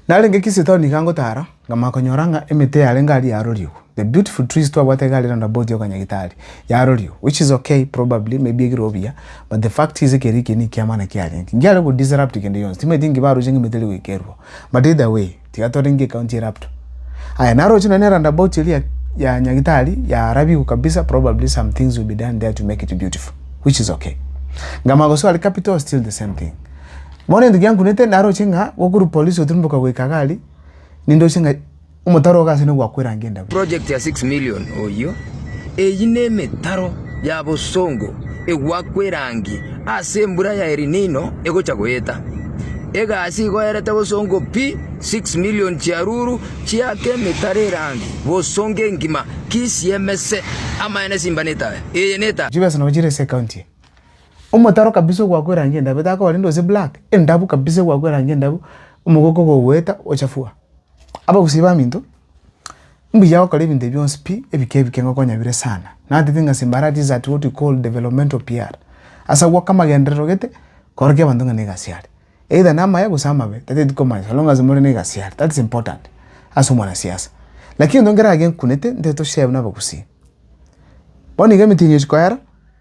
Narenge Kisitao nigo angotara, nkamanya konyora ng'a emete yarenge aria yarorigwe, the beautiful trees twabwate iga aria roundabout ya Okanyagitari, yarorigwe, which is okay, probably, maybe egirwe buya, but the fact is ekero ekiya nekiama naki yarenge. Ngiare go disrupt kende yonsi, timaeti nki baroche ng'a emete eri goikerwa, but either way, tiga torenge ecounty erupto. Aya, naroche nonye ne roundabout eria ya Nyagitari yarabigwe kabisa, probably some things will be done there to make it beautiful, which is okay. Nkamanya gosoa aria Capital, still the same thing. Bono egento giankunete naroche ng'a gokorwa polisi gotirimboka goika iga aria, nindoche ng'a omotaro ogo ase nigo gwakwerangia endagera. Project ya six million oyio, eyio nemetaro ya bosongo egwakwerangi ase embura ya El Nino egocha goeta. Egasi igo erete bosongo pi six million chiaruru chiake emetaro erangi bosongo engima kisiemese amaene simba netae eye netae. Chibesa nabo chire ase ecounty eye. Omotaro kabisa ogwakwa erangi endabu etagokora rende gose black endabu kabisa egwakwa erangi endabu omogoka ogogoeta ochafua. Abagusii baminto mbuya gokora ebinto ebi bionsi pi ebike ebike ng'a okonyabire sana natete ng'a simbara this is at what we call developmental PR ase agwo oka amagenderero gete korokia abanto ng'a na egasi are either na amaya gose amabe tataeti komanya so long as more na egasi are that is important ase omwana siasa. Lakini egento nkeragenkunete nteto share buna abagusii bono iga emetino echikoera.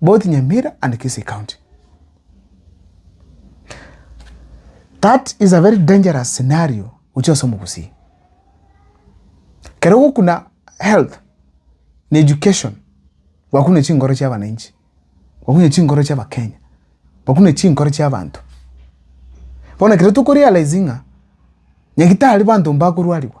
both Nyamira and Kisii County. That is a very dangerous scenario gochia ase omogusii. Kero gokuna health na education gwakune chingoro chia abananchi, gwakune chingoro chia Abakenya, gwakune chingoro chia abanto. Bono ekero tokorealize ng'a nyagitari banto mbakorwarigwa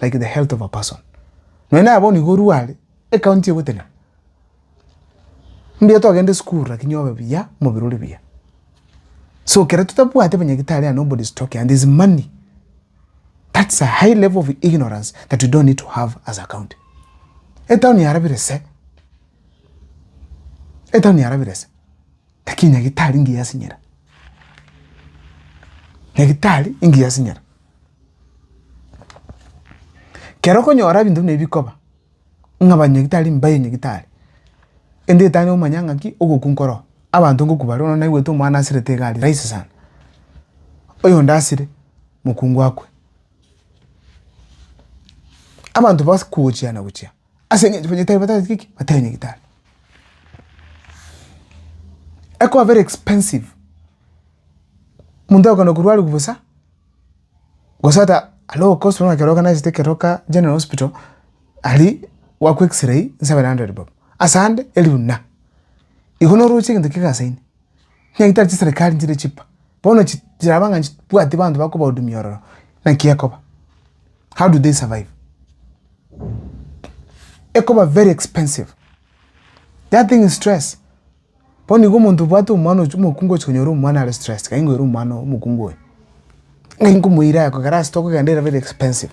like the health of a person nonya naye bono iga orware ekaunti egotenena mbuya togende esukuru lakini obe buya omobere ore buya so ekero totabwate abanyagitari and nobody is talking and there is money that's a high level of ignorance that we don't need to have as a county etown yarabire se etown yarabire se. Lakini nyagitari ngiyasinyera. Nyagitari ingiyasinyera. Kero okonyora ebinto buna ebi bikoba, ng'a banyagitari mbaye nyagitari, ende etani omanya ng'aki ogokwa nkoroo. Abanto ngokwa bare bono naigwete omwana asirete iga aria rahisi sana. Oyonde asire, mokungu akwe. Abanto bagochiana gochia. Ase engencho banyetari batagete ki? Batari nyagetari. Ekoba very expensive. Omonto agokenda korwaria bosa, gose ata low cost bono ekero oganachete ekero ka General Hospital, aria gwakwa x-ray seven hundred bob. Ase ande, eribu na. Igo noroche egento kegasaine. Onye tari chiserekari nchire chipa, bono chi chiraba ng'a nchibwati banto bakobahudumia ororo, naki ekoba? How do they survive? Ekoba very expensive, that thing is stress, bono nigo omonto obwate omwana ochi omokungu ochi konyora omwana are stressed kaingoa ere omwana omokungu oyo, ng'ai nkomoira aya kogera ase tokogenda era very expensive.